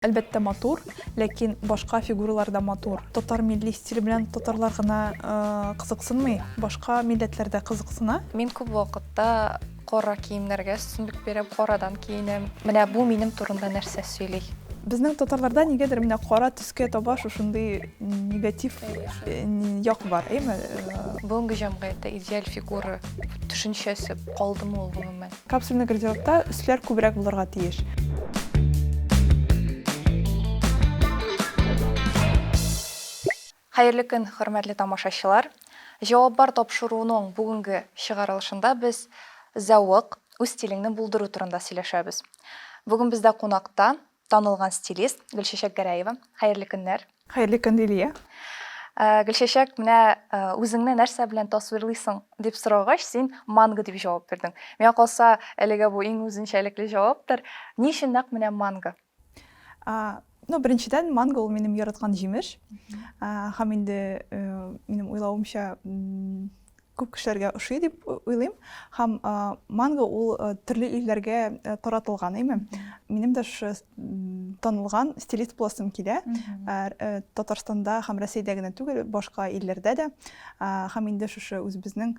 Әлбәттә матур, ләкин башка фигуралар да матур. Татар милли стиле белән татарлар гына кызыксынмый, башка милләтләр дә кызыксына. Мин күп вакытта кара киемнәргә өстенлек бирәм, карадан киенәм. Менә бу минем турында нәрсә сөйли? Безнең татарларда нигәдер менә кара төскә таба шушындый негатив як бар, әйеме? Бүгенге җәмгыятьтә идеаль фигура төшенчәсе калдымы ул гомумән? Капсульный гардеробта өсләр күбрәк булырга тиеш. Хәерле көн, хөрмәтле тамашачылар! Җавап бар тапшыруының бүгенге чыгарылышында без зәвык, үз стилеңне булдыру турында сөйләшәбез. Бүген бездә кунакта Танылган стилист Гөлчәчәк Гәрәева. Хәерле көннәр! Хәерле көн, Лилия! Гөлчәчәк, менә үзеңне нәрсә белән тасвирлыйсың, дип сорагач, син манго дип җавап бирдең. Миңа калса, әлегә бу иң үзенчәлекле җаваптыр. Ни өчен нәкъ менә манго? Ну, беренчедән, манго ул минем яраткан җимеш. Һәм инде минем уйлавымча, күп кешеләргә ошый дип уйлыйм. Һәм манго ул төрле илләргә таратылган, әйме? Минем дә шушы танылган стилист буласым килә. Татарстанда һәм Россиядә генә түгел, башка илләрдә дә. Һәм инде шушы үзебезнең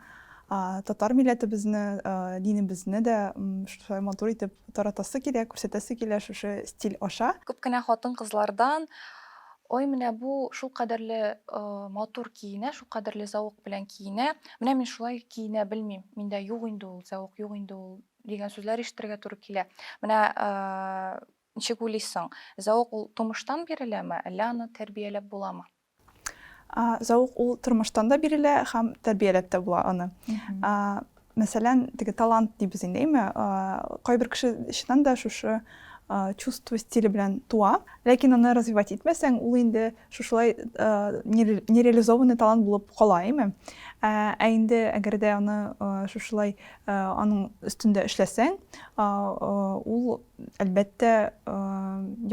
татар милләтебезне, динебезне дә шулай матур итеп таратасы килә, күрсәтәсе килә шушы стиль аша. Күп кенә хатын-кызлардан Ой, менә бу шулкадәрле матур киенә, шулкадәрле зәвык белән киенә, менә мин шулай киенә белмим, миндә юк инде ул зәвык, юк инде ул дигән сүзләр ишетергә туры килә. Менә ничек уйлыйсың, зәвык ул тумыштан биреләме, әллә аны тәрбияләп буламы? Зәвык ул тормыштан да бирелә һәм тәрбияләп тә була аны. Мәсәлән, теге талант дибез инде, әйме? Кайбер кеше чыннан да шушы чувство стиле белән туа, ләкин аны развивать итмәсәң, ул инде шушылай нереализованный талант булып кала, әйме? Ә инде әгәр дә аны шушылай аның өстендә эшләсәң, ул, әлбәттә,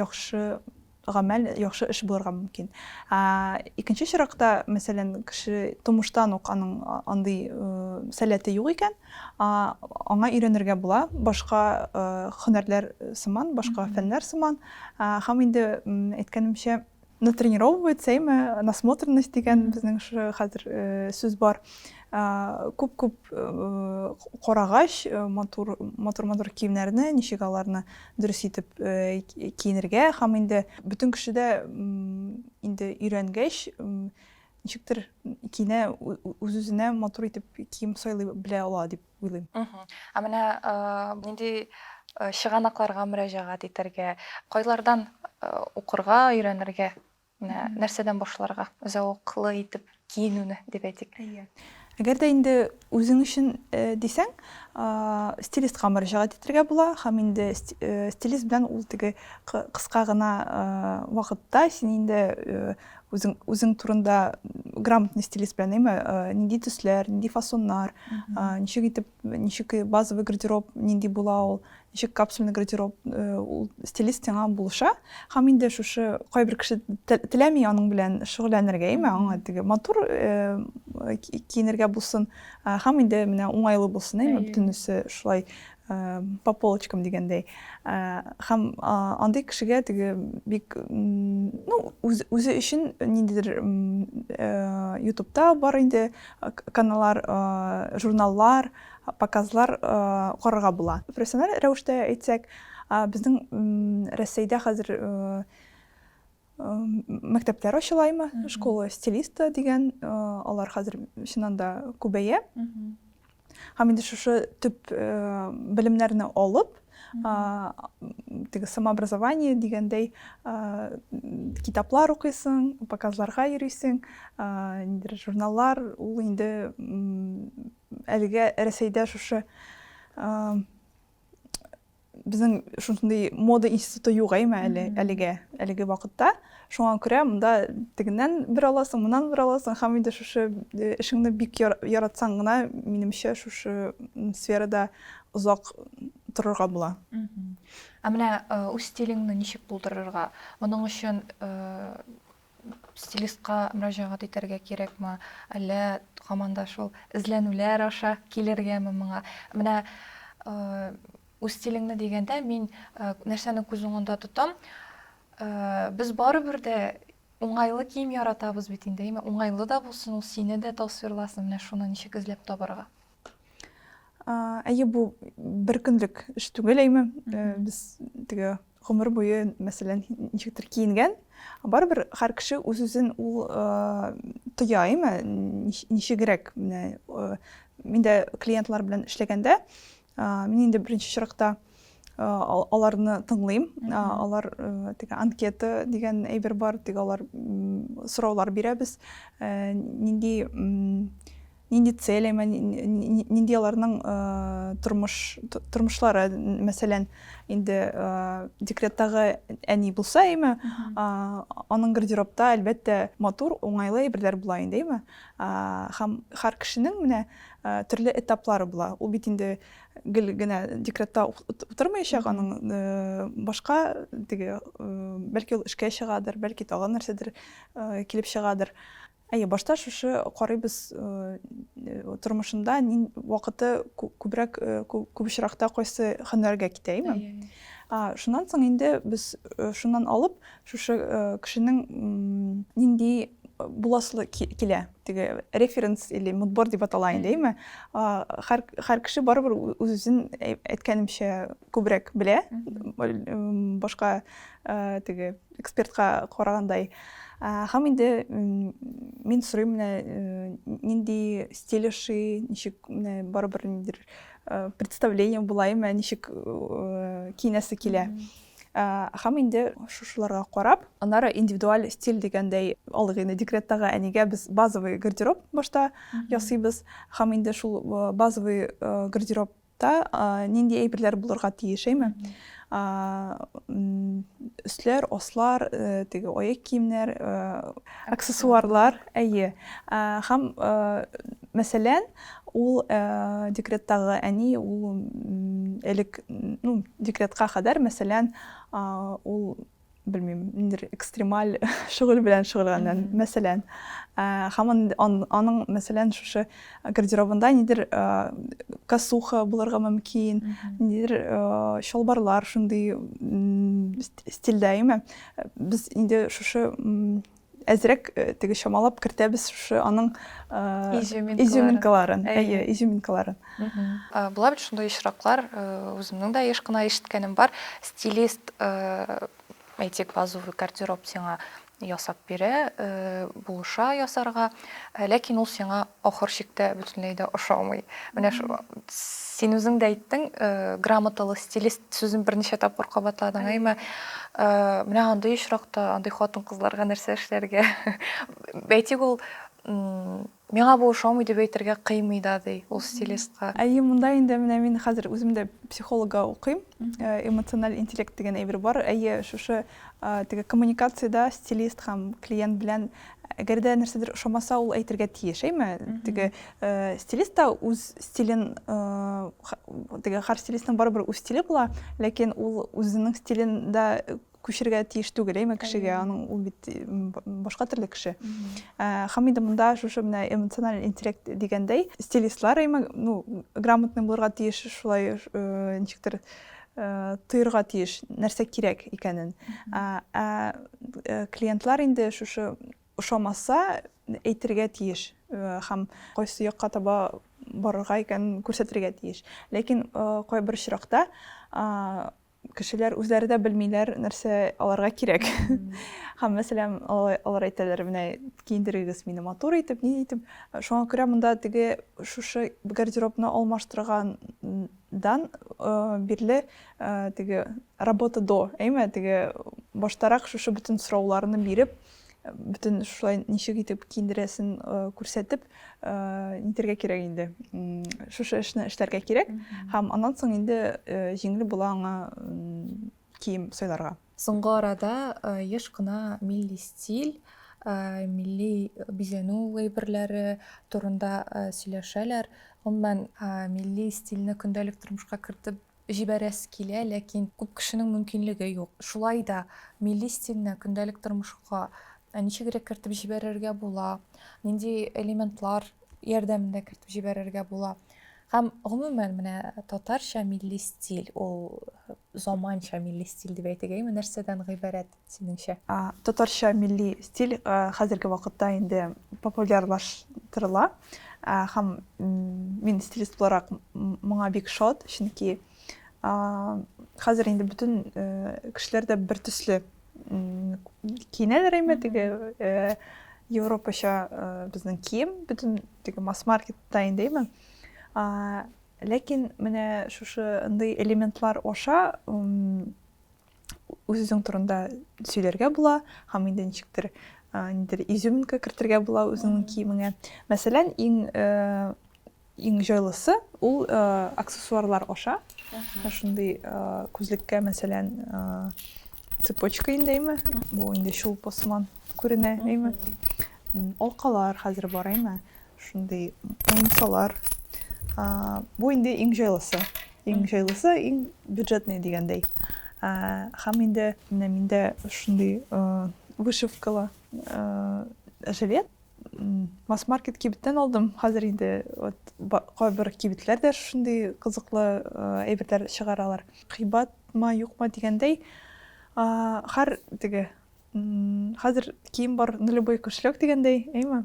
яхшы гамәл, яхшы эш булырга мөмкин. Ә икенче очракта, мәсәлән, кеше тумыштан ук аның андый сәләте юк икән, аңа өйрәнергә була, башка һөнәрләр сыман, башка фәннәр сыман. Һәм инде әйткәнемчә, натренировывается, әйме, насмотренность дигән безнең шушы хәзер сүз бар. Күп-күп карагач, матур-матур киемнәрне, ничек аларны дөрес итеп киенергә һәм инде бөтен кеше дә инде өйрәнгәч ничектер киенә үз-үзенә матур итеп кием сайлый белә ала дип уйлыйм. Ә менә нинди чыганакларга мөрәҗәгать итәргә, кайлардан укырга, өйрәнергә? Менә нәрсәдән башларга? Зәвыклы итеп киенүне дип әйтик. Әгәр дә инде үзең өчен дисәң, стилистка мөрәҗәгать итәргә була һәм инде стилист белән ул теге кыска гына вакытта син инде үзең үзең турында грамотный стилист белән, әйме, нинди төсләр, нинди фасоннар, ничек итеп ничек базовый гардероб нинди була ул ничек капсульный гардероб э, ул стилист сиңа булыша һәм инде шушы кайбер кеше теләми аның белән шөгыльләнергә яме аңа теге матур э, киенергә булсын э, һәм инде менә уңайлы булсын яме бөтенесе шулай по полочкам дигәндәй һәм андый кешегә теге бик ну үзе өчен ниндидер ютубта бар инде Каналар, журналлар, показлар карарга була. Профессиональ рәвештә әйтсәк, безнең Рәсәйдә хәзер мәктәпләр ачыла имә, школа стилиста дигән, алар хәзер чыннан да күбәя. Һәм инде шушы төп белемнәрне алып, теге самообразование дигәндәй китаплар укыйсың, показларга йөрисең, ниндидер журналлар, ул инде әлегә Рәсәйдә шушы безнең шушындый мода институты юк әйме әле, әлегә, әлеге вакытта. Шуңа күрә монда тегеннән бер аласың, моннан бер аласың, һәм инде шушы эшеңне бик яратсаң гына, минемчә, шушы сферада озак торырга була. Ә менә үз стилеңне ничек булдырырга? Моның өчен стилистка мөрәҗәгать итәргә кирәкме? Әллә һаман да шул эзләнүләр аша килергәме моңа? Менә үз стилеңне дигәндә мин нәрсәне күз уңында тотам? Без барыбер дә уңайлы кием яратабыз бит инде, әйме? Уңайлы да булсын, ул сине дә тасвирласын. Менә шуны ничек эзләп табарга? Әйе, бу бер көнлек эш түгел, әйме. Э, без теге гомер буе, мәсәлән, ничектер киенгән, барыбер һәр кеше үз-үзен ул э, тоя, әйме, ничегрәк. Менә э, мин дә клиентлар белән эшләгәндә, мин инде беренче чиракта аларны тыңлыйм. Алар теге анкета дигән әйбер бар, теге алар сораулар бирәбез. Нинди Нинди цели, нинди аларның тормыш, тормышлары, мәсәлән, инде декреттагы әни булса, әйме, аның гардеробта, әлбәттә, матур, уңайлы әйберләр була инде, әйме. Һәм һәр кешенең менә төрле этаплары була. Ул бит инде гел генә декретта утырмаячак, аның башка теге, бәлки ул эшкә чыгадыр, бәлки тагын нәрсәдер килеп чыгадыр. Әйе, башта шушы карыйбыз тормышында нин вакыты күбрәк күп очракта кайсы һөнәргә китә, име? Шуннан соң инде без шуннан алып шушы кешенең нинди буласы килә, теге референс или мудбор дип атала инде, име? Һәр кеше барыбер үзен әйткәнемчә күбрәк белә, башка теге экспертка карагандай. Һәм инде мин сорыйм менә нинди стиль ошый, ничек менә барыбер ниндидер представление булаймы, ничек киенәсе килә. Һәм инде шушыларга карап, аннары индивидуаль стиль дигәндәй, алыйк инде декреттагы әнигә без базовый гардероб башта ясыйбыз. Һәм инде шул базовый гардероб Та нинди әйберләр булырга тиеш, әйме? Өсләр, аслар, теге аяк киемнәр, аксессуарлар, әйе. Һәм, мәсәлән, ул декреттагы әни, ул элек, ну, декретка кадәр, мәсәлән, ул белмим, ниндер экстремаль шөгыль белән шөгыльләнгән, мәсәлән. Һәм аның, мәсәлән, шушы гардеробында ниндер косуха булырга мөмкин, ниндер чалбарлар шундый стильдә, әйме? Без инде шушы әзрәк теге чамалап кертәбез шушы аның изюминкаларын әйе изюминкаларын була бит шундый очраклар үземнең дә еш кына ишеткәнем бар стилист әйтик базовый гардероб сиңа ясап бирә булыша ясарга Ләкин ул сиңа ахыр чиктә бөтенләй дә ошамый. Менә шул син үзең дә әйттең, э, грамоталы стилист сүзен берничә тапкыр кабатладың, әйме? Э, менә андый очракта, андый хатын-кызларга нәрсә эшләргә? Әйтик, ул миңа бу ошамый дип әйтергә кыймый да, ди ул стилистка. Әйе, монда инде менә мин хәзер үзем дә психологга укыйм. Э, эмоциональ интеллект дигән әйбер бар. Әйе, шушы э, теге коммуникациядә стилист һәм клиент белән Әгәр дә нәрсәдер ошамаса, ул әйтергә тиеш, әйме? Теге стилист та үз стилен, теге хар стилистның барыбер үз стиле була, ләкин ул үзенең стилен дә күчергә тиеш түгел, әйме, кешегә, аның ул бит башка төрле кеше. Хам инде монда шушы менә эмоциональ интеллект дигәндәй, стилистлар, әйме, ну, грамотный булырга тиеш, шулай ничектер тоерга тиеш, нәрсә кирәк икәнен. Ә клиентлар инде шушы ошамаса, әйтергә тиеш һәм кайсы якка таба барырга икәнен күрсәтергә тиеш. Ләкин кайбер очракта кешеләр үзләре дә белмиләр, нәрсә аларга кирәк. Һәм, мәсәлән, алар әйтәләр, менә киендерегез мине матур итеп, ни итеп. Шуңа күрә монда теге шушы гардеробны алмаштырган дан бирле теге работа до әйме теге баштарак шушы бөтен сорауларны биреп бөтен шулай ничек итеп киендерәсен күрсәтеп нитәргә кирәк инде шушы эшне эшләргә кирәк һәм аннан соң инде җиңел була аңа кием сайларга Соңгы арада еш кына милли стиль, милли бизәнү әйберләре турында сөйләшәләр. Гомумән, милли стильне көндәлек тормышка кертеп җибәрәсе килә, ләкин күп кешенең мөмкинлеге юк. Шулай да милли стильне көндәлек тормышка ничегрәк кертеп җибәрергә була, нинди элементлар ярдәмендә кертеп җибәрергә була? Һәм гомумән менә татарча милли стиль ул заманча милли стиль дип әйтегәйме, нәрсәдән гыйбарәт синеңчә? Татарча милли стиль хәзерге вакытта инде популярлаштырыла һәм мин стилист буларак моңа бик шат, чөнки хәзер инде бөтен кешеләр дә бертөсле киенәләр әйме теге европача безнең кием бөтен теге масс маркетта инде әйме ләкин менә шушы ындый элементлар аша үзең турында сөйләргә була һәм инде ничектер нидер изюминка кертергә була үзеңнең киемеңә мәсәлән иң Иң җайлысы ул аксессуарлар аша. Шундый күзлеккә, мәсәлән, цепочка инде, әйме? Бу инде чулпы сыман күренә, әйме? Алкалар хәзер бар, әйме? Шундый муенсалар. Бу инде иң җайлысы. Иң җайлысы, иң бюджетный дигәндәй. Һәм инде менә миндә шундый вышивкалы жилет. Масс-маркет кибеттән алдым. Хәзер инде вот кайбер кибетләр дә шундый кызыклы әйберләр чыгаралар. Кыйбатма, юкма дигәндәй, хәр теге хәзер кием бар на любой кошелек дигәндәй, әйме?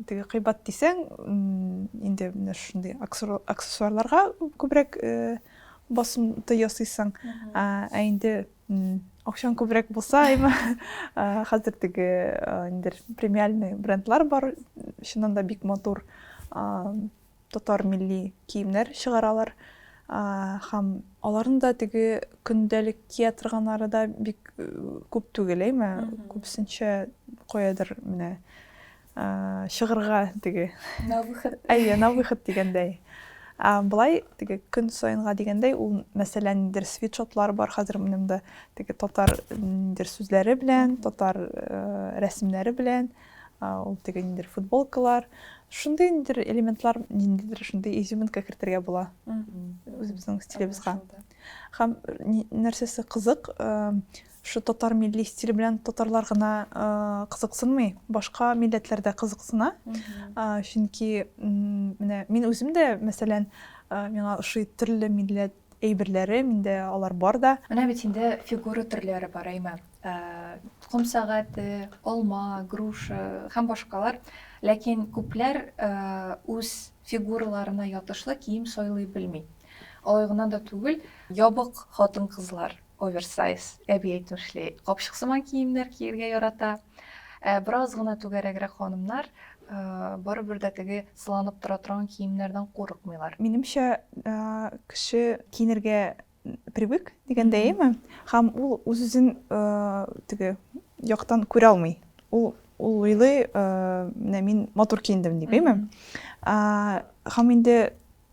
Теге кыйбат дисәң, инде менә шундый аксессуарларга күбрәк басымта ясыйсың. Ә инде Акчаң күбрәк булса, әйме, хәзер теге инде премиальный брендлар бар, чыннан да бик матур татар милли киемнәр чыгаралар. Һәм аларның да теге көндәлек кия торганнары да бик күп түгел, әйме, күбесенчә каядыр менә чыгырга теге на выход әйе на выход дигәндәй былай теге көн саенга дигәндәй ул мәсәлә ниндидер свитшотлар бар хәзер минемдә теге татар ниндидер сүзләре белән татар рәсемнәре белән ул теге ниндидер футболкалар шундый ниндидер элементлар ниндидер шундый изюминка кертергә була үзебезнең стилебезга һәм нәрсәсе кызык Шул татар милли стиле белән татарлар гына кызыксынмый, башка милләтләр дә кызыксына. Чөнки менә мин үзем дә, мәсәлән, миңа ошый төрле милләт әйберләре, миндә алар бар да. Менә бит инде фигура төрләре бар, әйме, ком сәгате, алма, груша һәм башкалар. Ләкин күпләр үз фигураларына ятышлы кием сайлый белми. Алай гына да түгел, ябык хатын-кызлар Оверсайз, әби әйтмешли, капчык сыман киемнәр киергә ярата. Ә бераз гына түгәрәгрәк ханымнар барыбер дә теге сыланып тора торган киемнәрдән курыкмыйлар. Минемчә, кеше киенергә привык дигәндәеме, һәм ул үз-үзен теге яктан күрә алмый. Ул уйлый, менә мин матур киендем дип, әйме? Һәм инде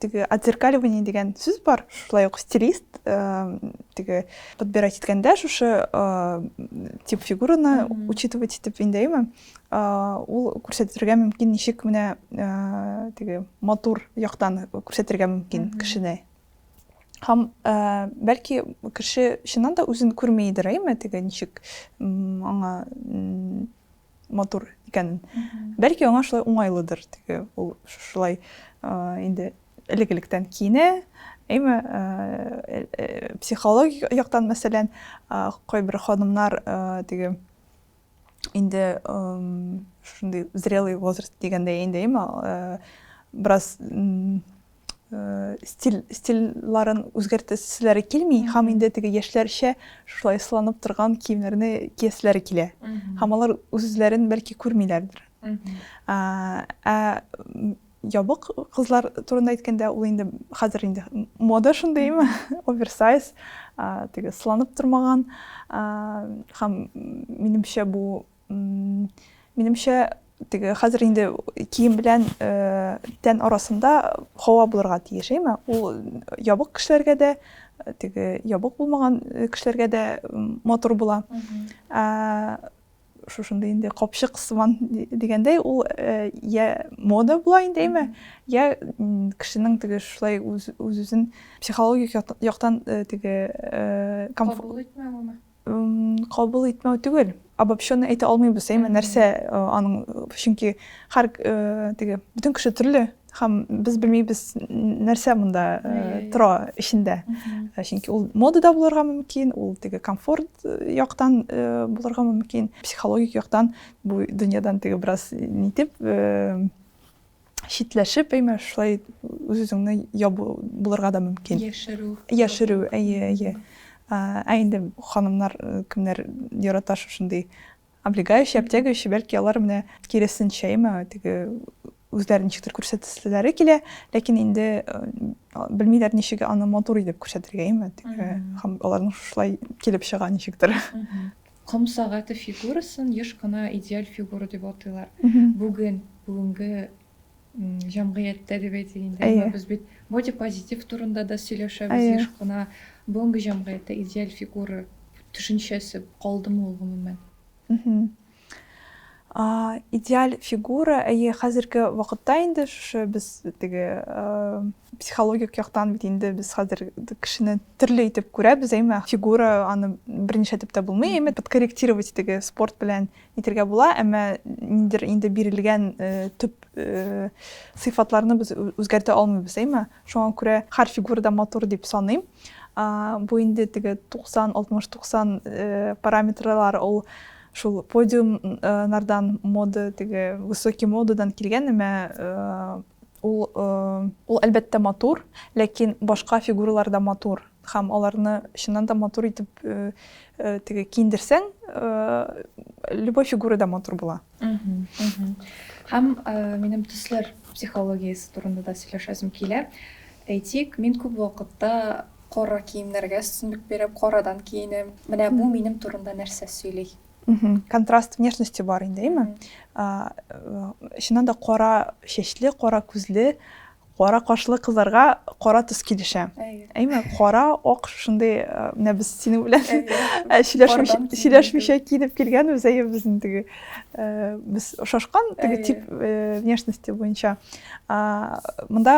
теге отзеркаливание дигән сүз бар шулай ук стилист теге подбирать иткәндә шушы тип фигураны учитывать итеп инде әйме ул күрсәтергә мөмкин ничек менә теге матур яктан күрсәтергә мөмкин кешене һәм бәлки кеше чыннан да үзен күрмидер әйме теге ничек аңа матур икәнен. Бәлки аңа шулай уңайлыдыр, теге ул шулай инде элек-электән киенә, әйме э, э, психологик яктан мәсәлән кайбер ханымнар э, теге инде шундый зрелый возраст дигәндә инде әйме бераз э, стиль стильларын үзгәртәселәре килми һәм инде теге яшьләрчә шулай сыланып торган киемнәрне кияселәре килә һәм алар үзләрен бәлки күрмиләрдер ә ябык кызлар турында әйткәндә ул инде хәзер инде мода шундыймы оверсайз теге сыланып тормаган һәм минемчә бу Минемчә, теге хәзер инде кием белән тән арасында һава булырга тиеш, әйме? Ул ябык кешеләргә дә, теге ябык булмаган кешеләргә дә матур була. Шушындый инде капчык сыман дигәндәй, ул я мода була инде, әйме? Я кешенең теге шулай үз-үзен психологик яктан теге кабул итмәвеме? Кабул итмәү түгел, обобщенный әйтә алмыйбыз, әйме, нәрсә аның, чөнки һәр теге, бөтен кеше төрле, һәм без белмибез, нәрсә монда тора эчендә. Чөнки ул модада булырга мөмкин, ул теге комфорт яктан булырга мөмкин, психологик яктан бу дөньядан теге бераз нитеп, читләшеп, әйме, шулай үз-үзеңне ябу булырга да мөмкин. Яшерү. Яшерү, әйе, әйе. Ә инде ханымнар э, кемнәр ярата шушындый облегающий, обтягивающий, бәлки алар менә киресенчә, әйме, теге үзләрен ничектер күрсәтәселәре килә, ләкин инде э, белмиләр ничек аны матур итеп күрсәтергә, әйме, теге аларның шулай килеп чыга ничектер. Ком сәгате фигурасын еш кына идеаль фигура дип атыйлар. Бүген, бүгенге җәмгыятьтә дип әйтик инде. Әйе. Без бит бодипозитив турында да сөйләшәбез еш кына. Бүгенге җәмгыятьтә идеаль фигура төшенчәсе калдымы ул гомумән? Идеаль фигура, әйе, хәзерге вакытта инде шушы без теге психологик яктан бит инде без хәзер кешене төрле итеп күрәбез әйме фигура аны берничә итеп тә булмый әйме подкорректировать итеге спорт белән итергә була әмма ниндидер инде бирелгән э, төп э, сыйфатларны без үзгәртә алмыйбыз әйме шуңа күрә һәр фигура да матур дип саныйм бу инде теге 90 60 90 э, параметрлар ул шул подиумнардан мода теге высокий модадан килгән әмма Ул, ул әлбәттә матур, ләкин башка фигуралар да матур. Хәм аларны чыннан да матур итеп теге киндерсәң, любой фигура да матур була. Хәм минем төсләр психологиясе турында да сөйләшәсем килә. Әйтик, мин күп вакытта кара киемнәргә өстенлек бирәм, карадан киенәм. Менә бу минем турында нәрсә сөйли? контраст внешности бар инде әйме чыннан да кара чәчле кара күзле кара кашлы кызларга кара төс килешә әйме кара ак шушындый менә без синең белән сөйләшмичә киенеп килгәнбез әйе безнең теге без ошашкан теге тип внешности буенча монда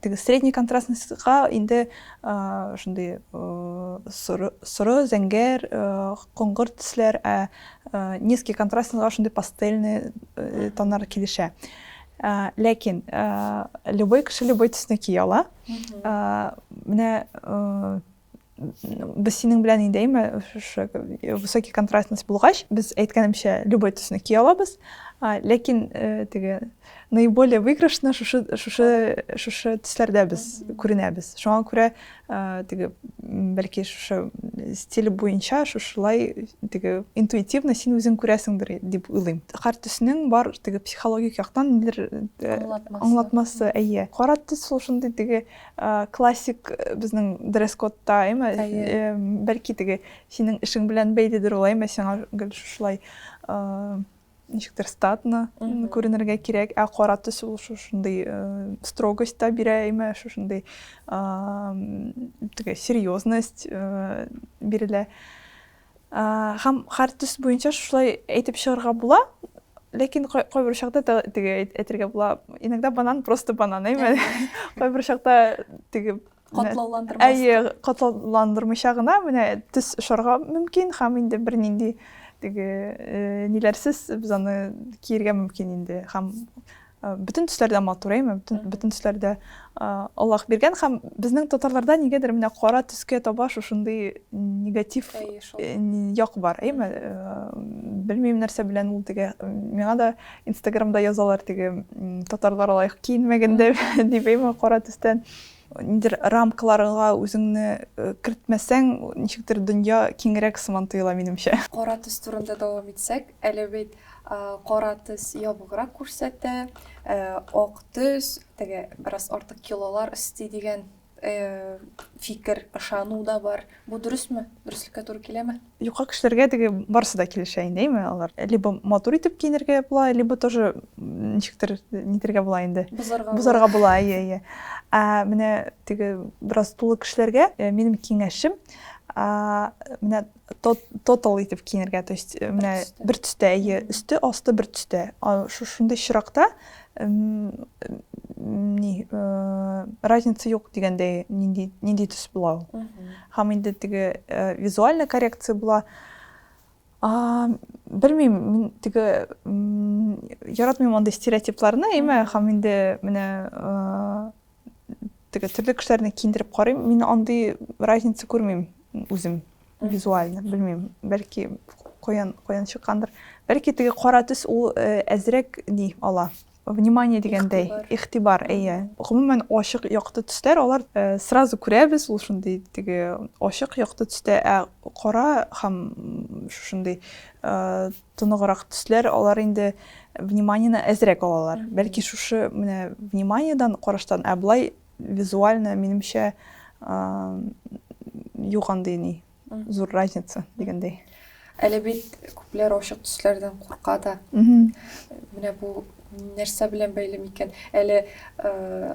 теге средний контрастныйга инде шундый соры зәңгәр коңгыр төсләр ә низкий контрастныйга шундый пастельный тоннар килешә ләкин любой кеше любой төсне кия ала менә без синең белән инде әйме шушы высокий контрастность булгач без әйткәнемчә любой төсне кия алабыз ләкин э, теге наиболее выигрышны шушы шушы шушы төсләрдә без күренәбез шуңа күрә э, теге бәлки шушы стиль буенча шушылай теге интуитивно син үзең күрәсеңдер дип уйлыйм кар төснең бар теге психологик яктан нилер э, аңлатмасы әйе кара төс шул шундый теге Классик безнең дресс-кодта, әйме, бәлки теге синең эшең белән бәйледер ул, әйме, сиңа гел шушылай ничектер статно күренергә кирәк, ә кара төс ул шушындый строгость та бирә, әйме, шушындый теге серьезность бирелә. Һәм һәр төс буенча шулай әйтеп чыгарга була, ләкин кайбер очракта теге әйтергә була. Иногда банан просто банан, әйме? Кайбер очракта теге катлауландырмас. Әйе, катлауландырмыйча гына менә төс очарга мөмкин һәм инде бернинди теге э, ниләрсез без аны киергә мөмкин инде һәм бөтен төсләрдә матур әйме бөтен төсләрдә аллах биргән һәм безнең татарларда нигәдер менә кара төскә таба шушындый негатив э, як бар әйме белмим нәрсә белән ул теге миңа да инстаграмда язалар теге татарлар лайк киенмәгәндә дип әйме кара төстән Нидер рамкаларга үзеңне кертмәсәң, ничектер дөнья киңрәк сыман тоела, минемчә. Кара төс турында дәвам итсәк, әле бит кара төс ябыграк күрсәтә, ак төс, теге бераз артык килолар өсти дигән фикер, ышану да бар. Бу дөресме? Дөреслеккә туры киләме? Юка кешеләргә теге барысы да килешә инде, әйме, алар либо матур итеп киенергә була, либо тоже ничектер нитергә була инде. Бузарга, Бузарга була, әйе, әйе. Ә менә теге бераз тулы кешеләргә э, минем киңәшем, менә тотал итеп киенергә, то есть э, менә бер төстә, әйе, өсте, асты бер төстә. Шундый чиракта ни разница юк дигәндәй нинди нинди төс була ул һәм инде теге визуальная коррекция була белмим мин теге яратмыйм андый стереотипларны әйме һәм инде менә теге төрле кешеләрне киендереп карыйм мин андый разница күрмим үзем визуально белмим бәлки каян каян чыккандыр бәлки теге кара төс ул э, әзрәк ни ала внимание дигәндәй игътибар әйе гомумән ачык якты төсләр алар э, сразу күрәбез ул шундый теге ачык якты төстә ә кара һәм шушындый э, тоныграк төсләр, алар инде вниманиены әзрәк алалар. Бәлки шушы менә вниманиедан караштан, ә болай визуально минемчә юк андый ни зур разница дигәндәй. Әле бит күпләр ачык төсләрдән курка да. Менә бу Нәрсә белән бәйле микән? Әле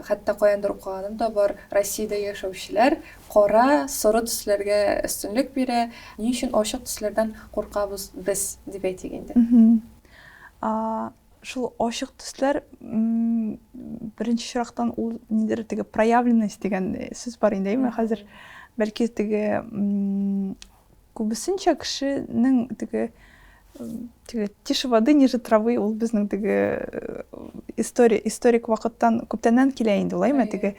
хәтта каяндыр укыганым да бар, Россиядә яшәүчеләр кара, соры төсләргә өстенлек бирә. Ни өчен ачык төсләрдән куркабыз без, дип әйтик инде. Шул ачык төсләр, беренче чирактан ул нидер теге проявленность дигән сүз бар инде, әйеме, хәзер бәлки теге Күбесенчә кешенең теге теге тише воды ниже травы ул безнең теге история историк вакыттан күптәннән килә инде улай ме теге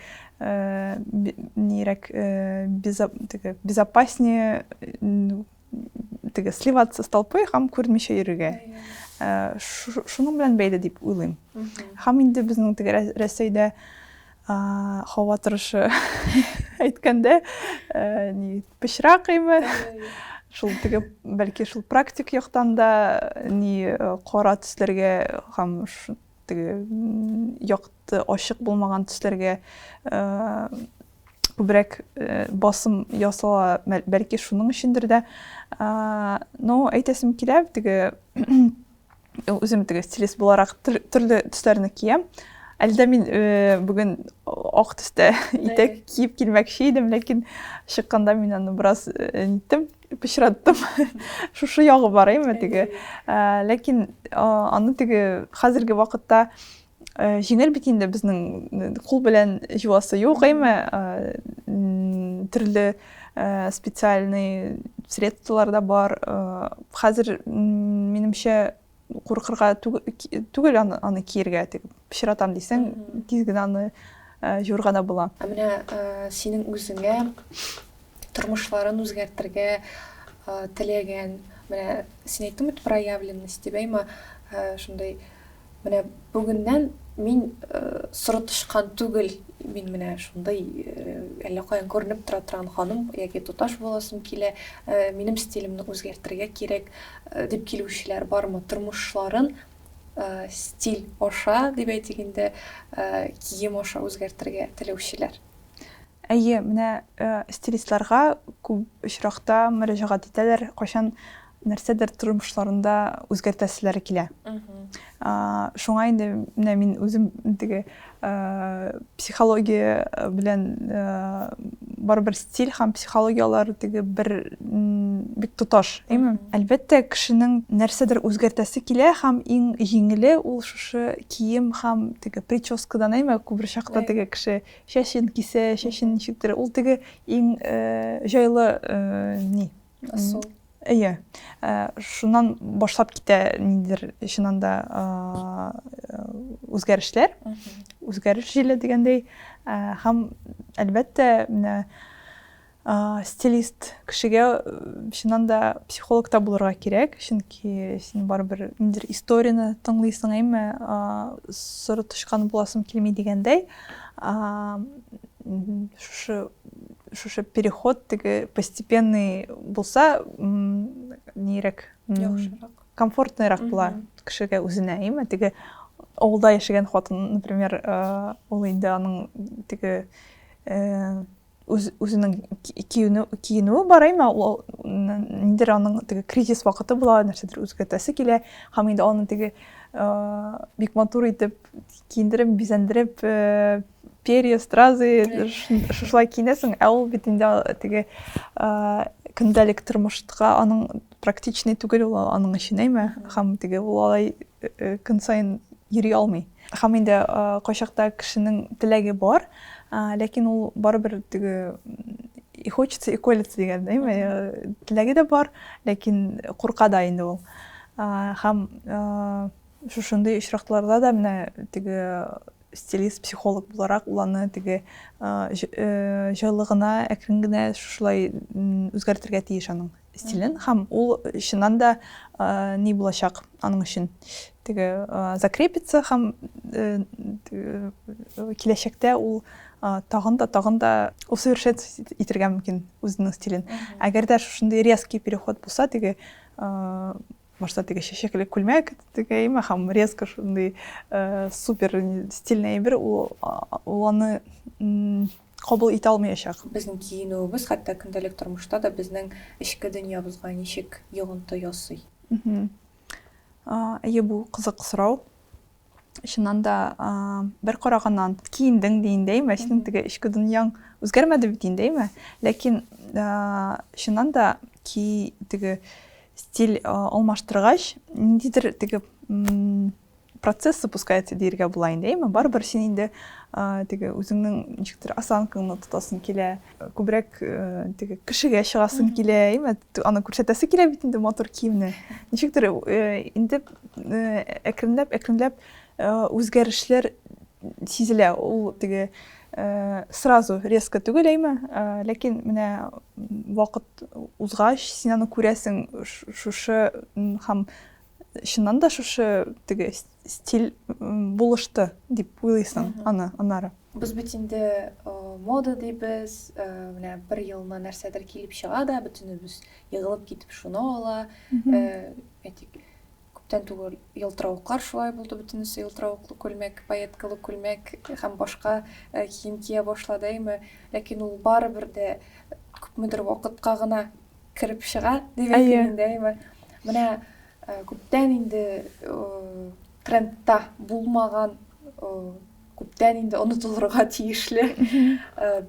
нирәк теге безопаснее теге сливаться с толпой һәм күрмичә йөрергә шуның белән бәйле дип уйлыйм һәм инде безнең теге рәсәйдә Һава торышы әйткәндә, ни, пычрак име? Шул теге, бәлки, шул практик яктан да, ни, кара төсләргә һәм теге якты, ачык булмаган төсләргә күбрәк басым ясала, бәлки, шуның өчендер дә. Но әйтәсем килә, теге Үзем теге стилист буларак төрле төсләрне киям. Әлдә мин э, бүген ак төстә итәк киеп килмәкче идем, ләкин чыкканда мин аны бераз э, ниттем, пычраттым. Шушы ягы бар әйме теге. Э, ләкин аны теге хәзерге вакытта Җиңел бит инде безнең кул белән җуасы юк, әйме? Төрле специальный средстволар да бар. Хәзер минемчә куркырга түгел аны киергә, тик пычратам дисәң, тиз генә аны җуырга да була. Ә менә синең үзеңә тормышларын үзгәртергә теләгән, менә син әйттең бит проявленность дип, әйме? Шундый Менә бүгеннән мин соры тычкан түгел, мин менә шундый әллә каян күренеп тора торган ханым яки туташ буласым килә, минем стилемне үзгәртергә кирәк, дип килүчеләр бармы? Тормышларын стиль аша, дип әйтик инде, кием аша үзгәртергә теләүчеләр. Әйе, менә стилистларга күп очракта мөрәҗәгать итәләр, кайчан нәрсәдер тормышларында үзгәртәселәре килә. Шуңа инде менә мин үзем теге психология белән барыбер стиль һәм психологияләр теге бер бик тоташ, әйме? Әлбәттә, кешенең нәрсәдер үзгәртәсе килә һәм иң җиңеле ул шушы кием һәм теге прическадан, әйме? Күбер чакта теге кеше чәчен кисә, чәчен ничектер, ул теге иң җайлы ни, Асыл. Әйе. Э, шуннан башлап китә ниндидер чыннан да үзгәрешләр. Үзгәреш җиле дигәндәй. Э, һәм әлбәттә, менә стилист кешегә э, чыннан да психолог та булырга кирәк, чөнки син барыбер ниндидер историяне тыңлыйсың, әйме, соры тычкан буласың килми дигәндәй. Шушы Шушы переход теге постепенный булса, нирәк? Яхшырак. Комфортныйрак була кешегә үзенә, әйме? Теге авылда яшәгән хатын, например, э, ул инде аның теге э, үзенең киенүе бар әйме ул ниндидер аның теге кризис вакыты була нәрсәдер үзгәртәсе килә һәм инде аны теге бик матур итеп киендереп бизәндереп перья стразы шушылай киенәсең ә ул бит инде теге көндәлек тормышка аның практичный түгел ул аның өчен әйме һәм теге ул алай э, э, көн саен йөри алмый һәм инде э, кайчакта кешенең теләге бар ләкин ул барыбер теге и хочется и колется дигән әйме теләге дә бар ләкин курка да инде ул һәм шушындый очракларда да менә теге Стилист-психолог буларак ул аны теге җылы гына, әкрен генә шушылай үзгәртергә тиеш аның стилен. Һәм ул чыннан да ни булачак аның өчен? Теге закрепится һәм киләчәктә ул тагын да, тагын да усовершенствовать итергә мөмкин үзенең стилен. Әгәр дә шушындый резкий переход булса, теге Башта теге чәчәкле күлмәк тегәйм, ахам резко шундый э, супер стильный әйбер, ул, ул аны кабул итә алмаячак. Безнең киенүебез хәтта көндәлек тормышта да безнең эчке дөньябызга ничек йогынты ясый? Әйе, бу кызык сорау. Чыннан да, бер караганнан киендең дигәндәй, мәчетнең теге эчке дөньяң үзгәрмәде бит инде, әйме? Ләкин чыннан да ки теге стиль алмаштыргач, ниндидер теге процесс запускается диергә була инде, әйме? Барыбер син инде теге үзеңнең ничектер осанкаңны тотасың килә. Күбрәк теге кешегә чыгасың килә, әйме? Аны күрсәтәсе килә бит инде матур киемне. Ничектер инде әкренләп, әкренләп үзгәрешләр сизелә. Ул теге сразу резко түгел, әйме? Ләкин менә вакыт узгач, син аны күрәсең, шушы һәм чыннан да шушы теге стиль булышты дип уйлыйсың аны аннары без бит инде мода дейбез менә бер елына нәрсәдер килеп чыга да бөтенебез егылып китеп шуны ала әйтик күптән түгел елтыравыклар шулай булды бөтенесе елтыравыклы күлмәк пайеткалы күлмәк һәм башка кием кия башлады әйме ләкин ул барыбер дә күпмедер вакытка гына кереп чыга дигән Әйе. килгәндәй бар. Менә э, күптән инде э, трендта булмаган, э, күптән инде онытылырга тиешле э,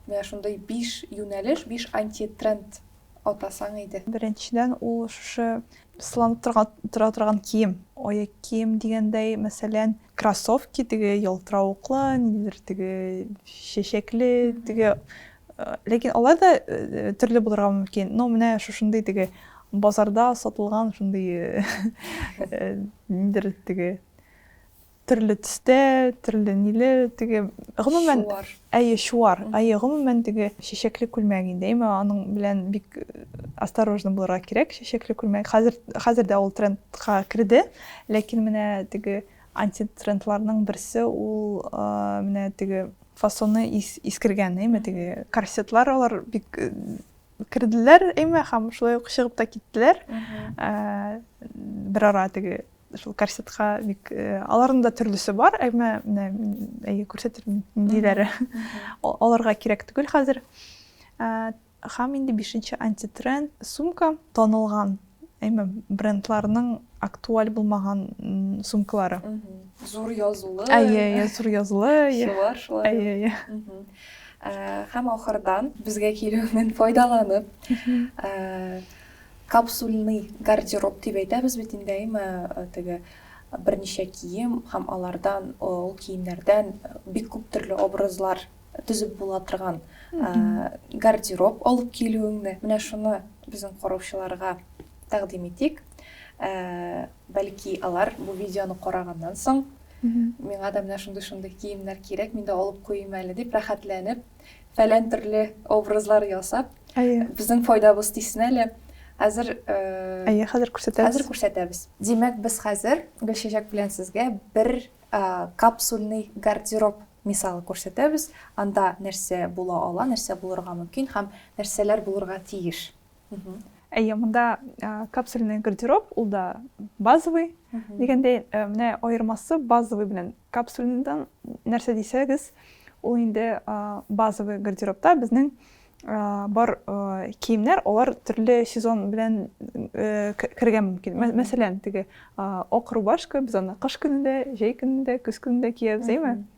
менә шундый биш юнәлеш, биш антитренд атасаң иде. Беренчедән ул шушы сыланып торган тора торган кием, аяк кием дигәндәй, мәсәлән, Кроссовки теге ялтыравыклы, ниндидер теге чәчәкле, теге ләкин алар да төрле булырга мөмкин. Но менә шушындый теге базарда сатылган шундый ниндидер теге төрле төстә, төрле ниле, теге гомумән Әйе, чуар. Әйе, гомумән, теге чәчәкле күлмәк инде. Әмма аның белән бик осторожно булырга кирәк, чәчәкле күлмәк. Хәзер, хәзер дә ул трендка керде. Ләкин менә теге антитрендларның берсе, ул менә теге фасоны искергән, әйме, теге корсетлар, алар бик керделәр, әйме, һәм шулай ук чыгып та киттеләр. Берара теге Шул корсетка бик э, аларның да төрлесе бар, әмма менә әйе күрсәтермен ниндиләре. Аларга кирәк түгел хәзер. Э, һәм инде бишенче антитренд сумка танылган әйме брендларның актуаль булмаган сумкалары зур язулы әйе әйе зур язулы шулар шулар әйе әйе һәм ахырдан безгә килүеннән файдаланып Капсульный гардероб дип әйтәбез бит инде, әйме, теге берничә кием һәм алардан, ул киемнәрдән бик күп төрле образлар төзеп була торган гардероб алып килүеңне, менә шуны безнең караучыларга тәкъдим итик. Бәлки алар бу видеоны караганнан соң, миңа да менә шундый-шундый киемнәр кирәк, мин дә алып куйыйм әле дип, рәхәтләнеп фәлән төрле образлар ясап, әйе. безнең файдабыз тисен әле. Хәзер э, Әйе, хәзер күрсәтәбез. Хәзер күрсәтәбез. Димәк, без хәзер Гөлчәчәк белән сезгә бер э, капсульный гардероб мисалы күрсәтәбез. Анда нәрсә була ала, нәрсә булырга мөмкин һәм нәрсәләр булырга тиеш. Әйе, монда капсульный гардероб, ул да базовый. Дигәндәй, э, менә аермасы базовый белән капсульныйдан нәрсә дисәгез, ул инде базовый гардеробта безнең бар киемнәр, алар төрле сезон белән э, кергән мөмкин. Мәсәлән, теге ак рубашка без аны кыш көнендә, җәй көнендә, көз көнендә киябез, әйме?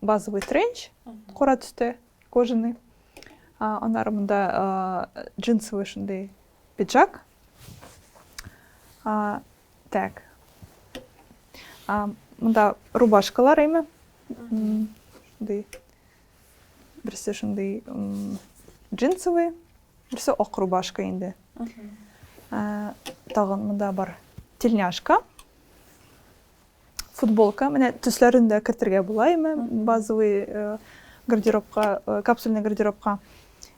базовый тренч, кора төстә, кожаный. Анар монда джинсовый шундый пиджак. Так. Монда рубашкалар әйме. Шундый. Берсе шундый джинсовый, берсе ак рубашка инде. Тагын монда бар тельняшка. футболка, менә төсләрен дә кертергә була име, базовый э, гардеробка, э, капсульный гардеробка.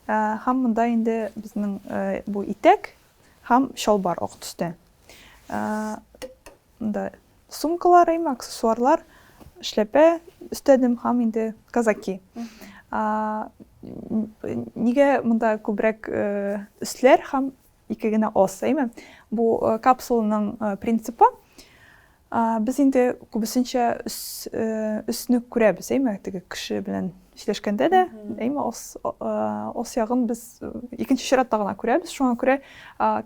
Э, һәм монда инде безнең бу итәк һәм чалбар ак төстә. Монда сумкалар, име, аксессуарлар, эшләпә өстәдем һәм инде казаки. Нигә монда күбрәк өсләр һәм ике генә ос әйме бу капсуланың принципы без инде күбесенчә өсне күрәбез әйме теге кеше белән эшләшкәндә дә әйме ос ос ягын без икенче чиратта гына күрәбез шуңа күрә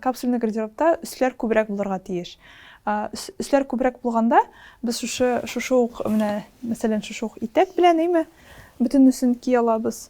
капсульный гардеробта өсләр күбрәк булырга тиеш өсләр күбрәк булганда без шушы шушы ук менә мәсәлән шушы ук итәк белән әйме бөтенесен ки алабыз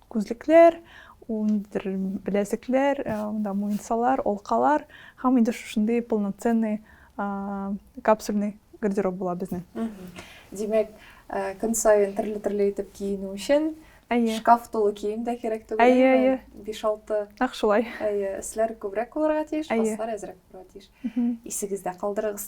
Күзлекләр, ул ниндидер беләзекләр, монда муенсалар, алкалар һәм инде шушындый полноценный капсульный гардероб була безнең. Димәк, көн саен төрле-төрле итеп киенү өчен Әйе. Шкаф тулы кием дә кирәк түгел. Әйе, әйе. 5-6. Нәкъ шулай. Әйе, өсләр күбрәк булырга тиеш, аслар әзрәк булырга тиеш. Исегездә калдырыгыз.